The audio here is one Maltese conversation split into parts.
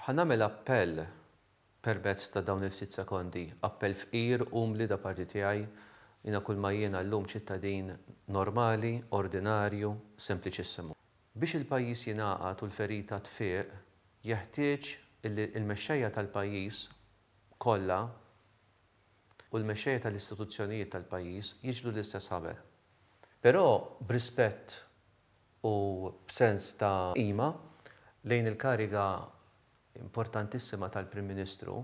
Ħa nagħmel appell permezz ta' dawn il-ftit sekondi, appell fqir, umli da parti tiegħi, jiena kulma jiena llum ċittadin normali, ordinarju, sempliċissimu. Biex il-pajjiż jingħaqad u l-ferita tfiq, jeħtieġ illi l-mexxejja tal-pajjiż kollha, u l-mexxejja tal-istituzzjonijiet tal-pajjiż jiġbdu l-istess ħaber. Però b'rispett u b'sens ta' qima lejn il-kariga importantissima tal-Prim Ministru,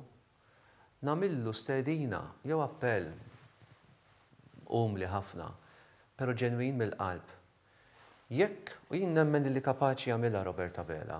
nagħmillu stedina jew appell umli ħafna, però ġenwin mill-qalb. Jekk, u jien nemmen li kapaċi jagħmilha Robert Abela,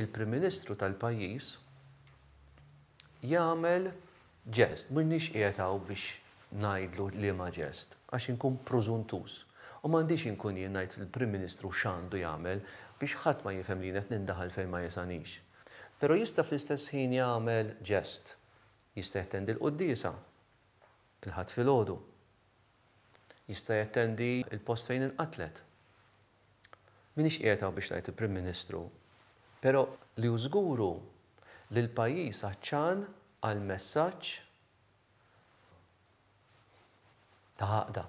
il-Prim Ministru tal-pajjiż jagħmel ġest, m'iniex qiegħed hawn biex ngħidlu liema ġest, għax inkun prużuntuż, u m'għandix inkun jien ngħid lill-Prim Ministru x'għandu jagħmel biex ħadd ma jifhem li jien qed nindaħal fejn ma jesanix. Però jista' fl-istess ħin jagħmel ġest, jista' jattendi l-quddiesa il-Ħadd filgħodu, jista' jattendi l-post fejn inqatlet. M'iniex qiegħed hawn biex ngħid il-Prim Ministru, però li hu żgur hu li l-pajjiż għatxan għal messaġġ ta' għaqda.